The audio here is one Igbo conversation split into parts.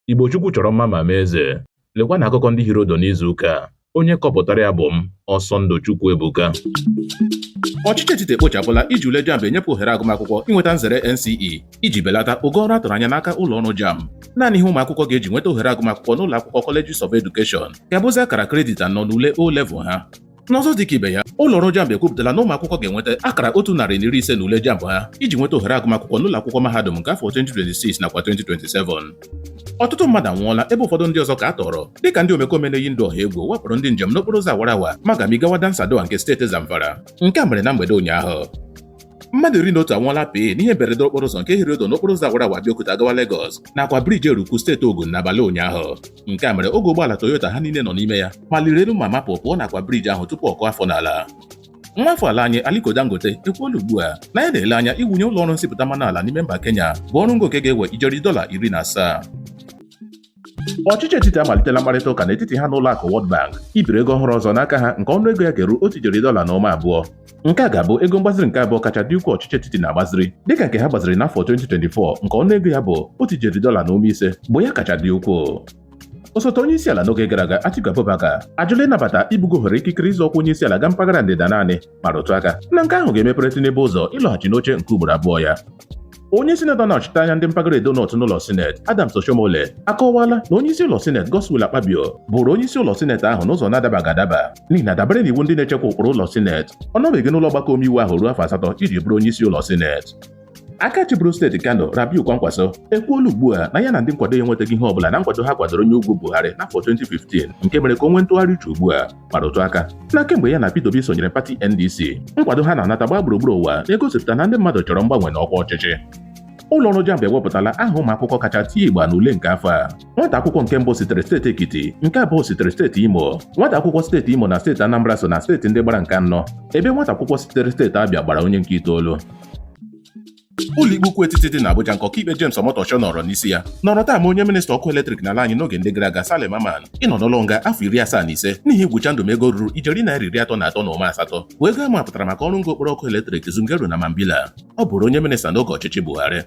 Igbo Chukwu chọrọ mma ma mee eze. Lekwa na akụkọ ndị hiri odo n'izu ụka a. Onye kọpụtara ya bụ m, Ọsọndụ Chukwuebuka. Ọchịchị etiti ekpochapụla iji ule JAMB enyepụ ohere agụmakwụkwọ inweta nzere NCE iji belata ogo ọrụ a tụrụ anya n'aka ụlọ ọrụ JAMB. Naanị ihe ụmụakwụkwọ ga-eji nweta ohere agụmakwụkwọ n'ụlọ akwụkwọ Colleges of Education ga-abụzi akara kredit anọ n'ule O level ha. N'ọzọ dị ka ibe ya, ụlọ ọrụ JAMB ekwupụtala na ụmụ akwụkwọ ga-enweta akara otu narị na iri ise na ule JAMB ha iji nweta ohere agụmakwụkwọ n'ụlọ akwụkwọ mahadum nke afọ 2026 nakwa 2027. Ọtụtụ mmadụ anwụọla ebe ụfọdụ ndị ọzọ ka a tọọrọ dịka ndị omekome na-eyi ndụ ọha egwu wakporo ndị njem n'okporo ụzọ awara awa Magami gawa Dansadau nke steeti Zamfara. Nke a mere na mgbede ụnyaahụ. Mmadụ iri na otu anwụọla pịị n'ihe mberede okporo ụzọ nke hiri odo n'okporo ụzọ awara awa Abeokuta gawa Lagos nakwa briji Eruku steeti Ogun n'abalị ụnyaahụ. nke a mere oge ụgbọala Toyota ha niile nọ n'ime ya maliri elu ma mapụ pụọ nakwa briji ahụ tupu ọ kụọ afọ n'ala nwa afọ ala anyị Aliko Dangote ekwuola ugbu a na ya na-ele anya iwunye ụlọ ọrụ nsipụta mmanụ ala n'ime mba Kenya bụ ọrụ ngo nke ga-ewe ijeri dọla iri na asaa ọchịchị etiti amalitela mkparịta ụka n'etiti ha na ụlọ akụ World Bank ibiri ego ọhụrụ ọzọ n'aka ha nke ọnụ ego ya ga-eru otu ijeri dọla na ụma abụọ nke a ga-abụ ego mgbaziri nke abụọ kacha dị ukwuu ọchịchị etiti na-agbaziri dịka nke ha gbaziri n'afọ 2024 nke ọnụego ya bụ otu ijeri dọla na ụma ise bụ ya kacha dị ukwuu osote onye isi ala n'oge gara aga Atiku Abubakar ajụla ịnabata ibugo ohere ikikere ịzọ ọkwa onye isi ala ga mpaghara ndịda naanị ma rụtụ aka na nke ahụ ga-emepere Tinubu ụzọ ịlọghachi n'oche nke ugboro abụọ ya onye sinetọ na-anọchite anya ndị mpaghara edo north n'ụlọ sineti adams oshiomhole akọwala na onye isi ụlọ sineti godswill akpabio bụrụ onye isi ụlọ sineti ahụ n'ụzọ na-adabaghị adaba n'ihi na dabere n'iwu ndị na-echekwa ụkpụrụ ụlọ sineti ọ nọbeghị n'ụlọ ọgbakọ omeiwu ahụ ruo afọ asatọ iji bụrụ onye isi ụlọ sineti aka chịburu steeti kano rabiu kwankwaso ekwuola ugbu a na ya na ndị nkwado ya enwetaghị ihe ọbụla na nkwado ha kwadoro onye ugwu buhari n'afọ 2015 nke mere ka o nwee ntụgharị uche ugbu a ma rụtụ aka na kemgbe ya na Peter Obi sonyere pati NDC nkwado ha na-anata gbaa gburugburu ụwa na-egosipụta na ndị mmadụ chọrọ mgbanwe na ọkwa ọchịchị ụlọ ọrụ JAMB ewepụtala aha ụmụ akwụkwọ kacha tie igba n'ule nke afọ a nwata akwụkwọ nke mbụ sitere steeti Ekiti nke abụọ sitere steeti Imo nwata akwụkwọ steeti Imo na steeti Anambra so na steeti ndị gbara nke anọ ebe nwata akwụkwọ sitere steeti Abịa gbara onye nke itoolu ụlọikpe ukwu etiti dị n'Abuja nke ọkaikpe James Omotosho nọrọ n'isi ya nọrọ taa maa onye minista ọkụ eletrik n'ala anyị n'oge ndị gara aga Saleh Mamman ịnọ n'ụlọ nga afọ iri asaa na ise n'ihi igwụcha ndụ m ego ruru ijeri naira iri atọ na atọ na ụma asatọ bụ ego a mapụtara maka ọrụ ngo okporo ọkụ eletrik Zungeru na Mambilla ọ bụrụ onye minista n'oge ọchịchị Buhari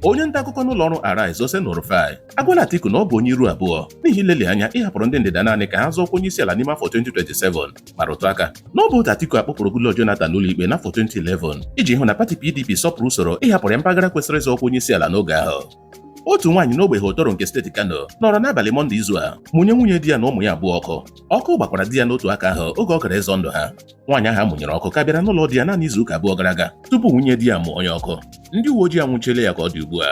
onye nta akụkọ n'ụlọ ọrụ Arise Oseni Rufai agwala Atiku na ọ bụ onye iru abụọ n'ihi ileli anya ịhapụrụ ndị ndịda naanị ka ha zọọ ọkwa onye isi ala n'ime afọ 2027 ma rụtụ aka na ọ bụ otu Atiku a kpụpụrụ Goodluck Jonathan ụlọikpe n'afọ 2011 iji hụ na pati PDP sọpụrụ usoro ịhapụrụ ya mpaghara kwesịrị ịzọ ọkwa onye isi ala n'oge ahụ otu nwaanyị n'ogbe Hotoro nke steeti Kano nọrọ n'abalị Mọnde izu a mụnye nwunye di ya na ụmụ ya abụọ ọkụ ọkụ gbakwara di ya n'otu aka ahụ oge ọ gara ịzọ ndụ ha nwaanyị ahụ a mụnyere ọkụ ka bịara n'ụlọ di ya naanị izu ụka abụọ gara aga tupu nwunye di ya mụnye ya ọkụ ndị uwe ojii anwụchiela ya ka ọ dị ugbu a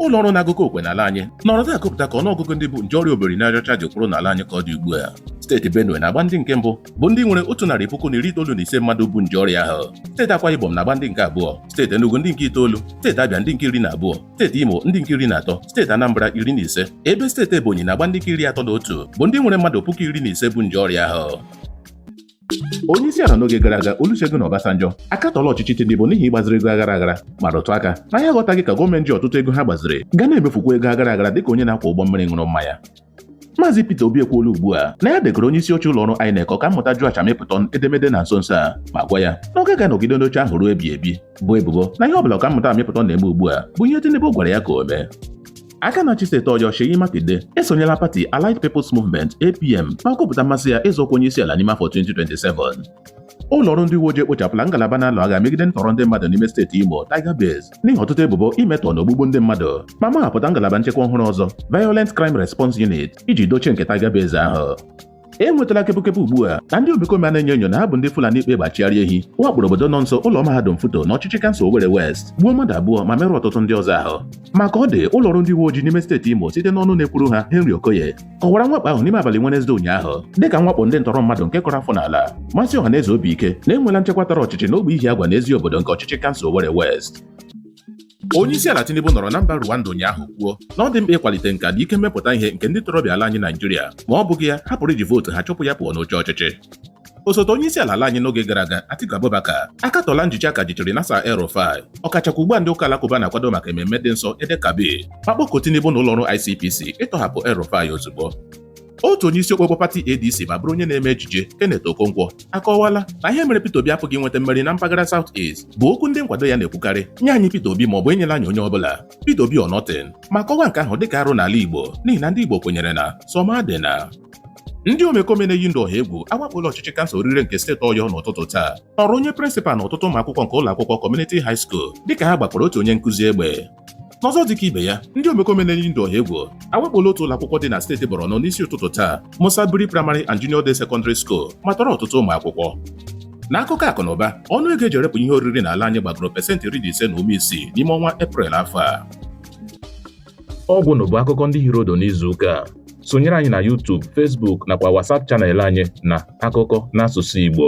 ụlọ ọrụ na-agụkọ okwe n'ala anyị nọrọ taa gụpụta ka ọnụọgụgụ ndị bu nje ọrịa obiri n'aja ọcha ji kwụrụ n'ala anyị ka ọ dị ugbu a steeti benue na-agba ndị nke mbụ bụ ndị nwere otu narị puku na iri itoolu na ise mmadụ bu nje ọrịa ahụ steeti akwa ibom na-agba ndị nke abụọ steeti enugu ndị nke itoolu steeti abịa ndị nke iri na abụọ steeti imo ndị nke iri na atọ steeti anambra iri na ise ebe steeti ebonyi na-agba ndị nke iri atọ na otu bụ ndị nwere mmadụ puku iri na ise bu nje ọrịa ahụ onye isi ala n'oge gara aga Olusegun Obasanjo akatọla ọchịchị Tinubu n'ihi ịgbaziri ego aghara aghara ma rụtụ aka na ya aghọtaghị ka gọọmenti ji ọtụtụ ego ha gbaziri ga na-emefukwa ego aghara aghara dịka onye na-akwọ ụgbọ mmiri ṅụrụ mmanya Maazị Peter Obi ekwuola ugbu a na ya degaara onye isi oche ụlọ ọrụ INEC ọka mmụta Joash Amupitan edemede na nso nso a ma gwa ya na ọ gaghị anọgide n'oche ahụ ruo ebighị ebi boo ebubo na ihe ọ bụla ọka mmụta Amupitan na-eme ugbu a bụ ihe Tinubu gwara ya ka o mee aka na-achị steeti Ọyọ Seyi Makinde esonyela pati Allied People's Movement APM ma kwupụta mmasị ya ịzọ ọkwa onyeisiala n'ime afọ 2027 ụlọ ọrụ ndị uwe ojii ekpochapụla ngalaba na-alụ agha megide ntọrọ ndị mmadụ n'ime steeti Imo Tiger Base n'ihi ọtụtụ ebubo imetọ na ogbugbu ndị mmadụ ma mahapụta ngalaba nchekwa ọhụrụ ọzọ Violent Crime Response Unit iji dochie nke Tiger Base ahụ e nwetala kepụkepụ ugbu a na ndị omekome a na-enyo enyo na ha bụ ndị Fulani kpa egbe achịgharị ehi wakporo obodo nọ nso ụlọ mahadum Futo na ọchịchị kansụl Owerri West gbuo mmadụ abụọ ma merụọ ọtụtụ ndị ọzọ ahụ ma ka ọ dị ụlọ ọrụ ndị uwe ojii n'ime steeti Imo site n'ọnụ na-ekwuru ha Henry Okoye kọwara mwakpo ahụ n'ime abalị Wenezdee ụnyaahụ dịka mwakpo ndị ntọrọ mmadụ nke kụrụ afọ n'ala mesie ọha na eze obi ike na e nweela nchekwa tara ọchịchị n'ogbe Ihiagwa na Eziobodo nke ọchịchị kansụl Owerri West Onye isi ala Tinubu nọrọ na mba Rwanda ụnyaahụ kwuo na ọ dị mkpa ịkwalite nka na ike mmepụta ihe nke ndị ntorobịa ala anyị Naijiria ma ọ bụghị ya ha pụrụ iji vootu ha chụpụ ya pụọ n'oche ọchịchị osote onye isi ala ala anyị n'oge gara aga Atiku Abubakar akatọla njichi aka jichiri Nasir El-Rufai ọkachakwa ugbu a ndị ụka alakụba na-akwado maka ememme dị nsọ Eid-el-Kabir ma kpọkuo Tinubu na ụlọọrụ ICPC ịtọhapụ El-Rufai ozugbo otu onye isi okpokpo pati ADC ma bụrụ onye na-eme ejije Kenneth Okonkwo akọwala na ihe mere Peter Obi apụghị inweta mmeri na mpaghara South East bụ okwu ndị nkwado ya na-ekwukarị nye anyị Peter Obi ma ọ bụ enyela anyị onye ọbụla Peter Obi or nothing ma kọwaa nke ahụ dịka arụ n'ala Igbo n'ihi na ndị Igbo kwenyere na sọ m adịna ndị omekome na-eyi ndụ ọha egwu awakpola ọchịchị kansụl Oriire nke steeti ọyọ n'ụtụtụ taa tọrọ onye prịnsịpal na ọtụtụ ụmụ akwụkwọ nke ụlọ akwụkwọ community high school dịka ha gbakwara otu onye nkụzi egbe N'ọzọ dịka ibe ya, ndị omekome na-eyi ndụ ọha egwu awakpola otu ụlọ akwụkwọ dị na steeti Borno n'isi ụtụtụ taa, Musa Biri Primary and Junior Day Secondary School ma tọrọ ọtụtụ ụmụ akwụkwọ. N'akụkọ akụ na ụba, ọnụ ego e ji erepụ ihe oriri n'ala anyị gbagoro pesentị iri na ise na ụma isii n'ime ọnwa Eprel afọ a. Ọ gwụla bụ akụkọ ndị hiri ụdụ n'izu ụka a. Sonyere anyị na YouTube, Facebook nakwa WhatsApp channel anyị na akụkọ n'asụsụ Igbo.